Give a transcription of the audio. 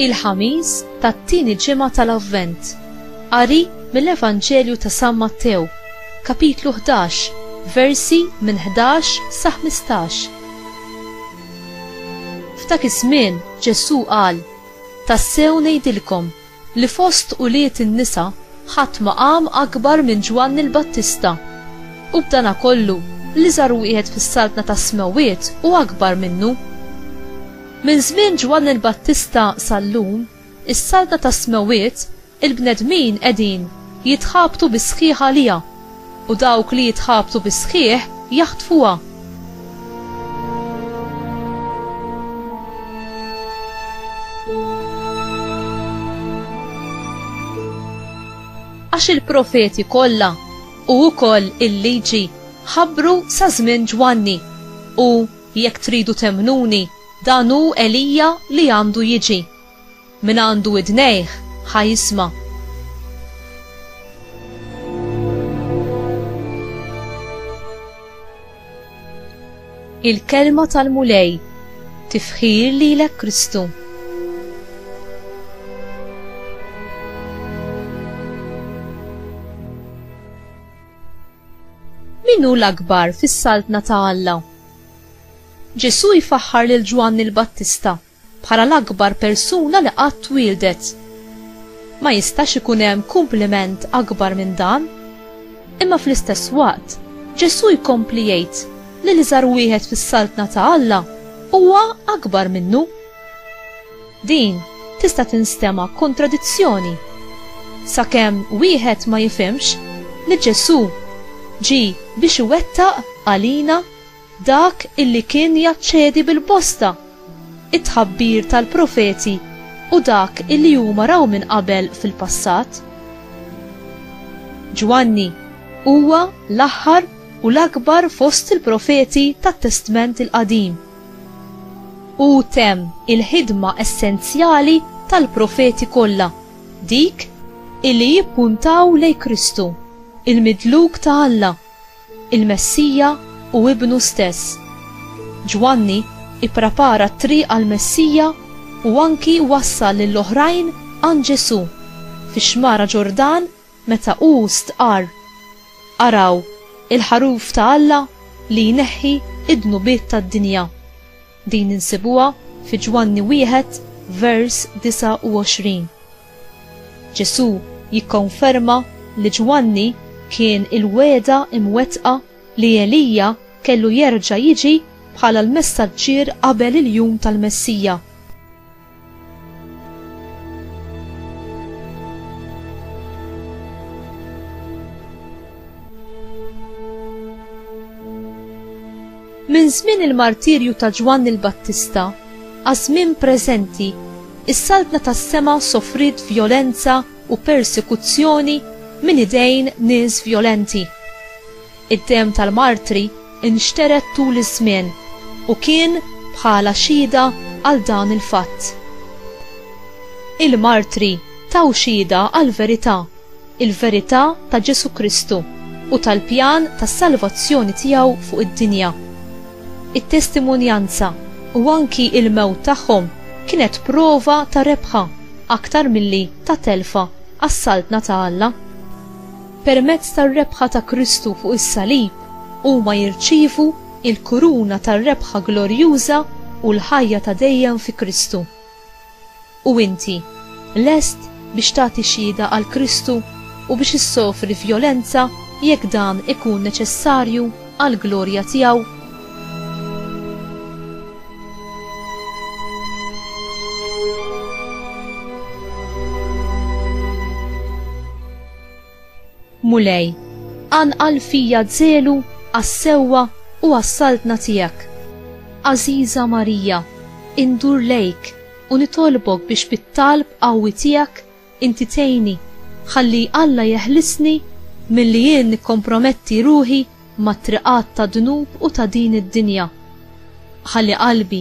il-ħamis tat-tieni ġimgħa tal-Avvent. Qari mill-Evanġelju ta' San Mattew, kapitlu 11, versi minn 11 sa 15. F'dak iż-żmien Ġesù qal: Tassew ngħidilkom li fost ulied in-nisa ħadd ma qam akbar minn Ġwanni l-Battista, u b'danakollu l-iżgħar wieħed fis-Saltna tas-Smewwiet hu akbar minnu. Minn żmien Ġwanni l-Battista sal-lum, is-Saltna tas-Smewwiet, il-bnedmin qegħdin jitħabtu bis-sħiħ għaliha, U dawk li jitħabtu bis-sħiħ jaħtfuha. Għax il-profeti kollha u wkoll il-liġi ħabbru sa żmien Ġwanni, u, jekk tridu temmnuni, dan hu Elija li għandu jiġi. Min għandu widnejh, ħa jisma'. Il-Kelma tal-Mulej, Tifħir lilek Kristu. Min hu l-akbar fis-Saltna ta' Alla? Ġesù jfaħħar lil Ġwanni l-Battista bħala l-akbar persuna li qatt twieldet. Ma jistax ikun hemm kumpliment akbar minn dan. Imma fl-istess waqt, Ġesù jkompli jgħid li l-iżgħar wieħed fis-Saltna ta' Alla huwa akbar minnu. Din tista' tinstema' kontradizzjoni sakemm wieħed ma jifhimx li Ġesù ġie biex iwettaq għalina dak illi kien jaċċedi bil-bosta it-tħabbir tal-profeti u dak illi huma raw minn qabel fil-passat. Ġwanni huwa l-aħħar u l-akbar fost il-profeti tat-Testment il-Qadim. Hu temm il-ħidma essenzjali tal-profeti kollha, dik illi jippuntaw lejn Kristu, il-Midluk ta' Alla, il-Messija u Ibnu stess. Ġwanni ipprepara t-triq għall-Messija u anki wassal lil oħrajn għand Ġesù fix-Xmara Ġordan meta hu stqarr, Araw, il-Ħaruf ta' Alla li jneħħi d-dnubiet tad-dinja. Din insibuha fi Ġwanni wieħed vers 29. Ġesù jikkonferma li Ġwanni kien il-wegħda mwettqa li Elija kellu jerġa' jiġi bħala l-messaġġier qabel il-jum tal-Messija. Minn żmien il-martirju ta' Ġwann il-Battista għaż-żmien preżenti, is-Saltna tas-Sema sofriet vjolenza u persekuzzjoni minn idejn nies vjolenti. Id-demm tal-martri nxtered tul iż-żmien u kien bħala xhieda għal dan il-fatt. Il-martri taw xhieda għall-verità, il-verità ta' Ġesù Kristu u tal-pjan tas-salvazzjoni tiegħu fuq id-dinja. It-testimonjanza u anki l-mewt tagħhom kienet prova ta' rebħa aktar milli ta' telfa għas-Saltna ta' Alla. Permezz tar-rebħa ta' Kristu fuq is-salib, huma jirċievu l-kuruna tar-rebħa glorjuża u l-ħajja ta' dejjem fi Kristu. U inti, lest biex tagħti xhieda għal Kristu u biex issofri vjolenza jekk dan ikun neċessarju għall-glorja tiegħu? Mulej, anqal fija żelu għas-sewwa u għas-saltna tiegħek. Għażiża Marija, indur lejk u nitolbok biex bit-talb qawwi tiegħek inti tgħinni ħalli Alla jeħlisni milli jien nikkomprometti ruħi mat-triqat tad-dnub u ta' din id-dinja. Ħalli qalbi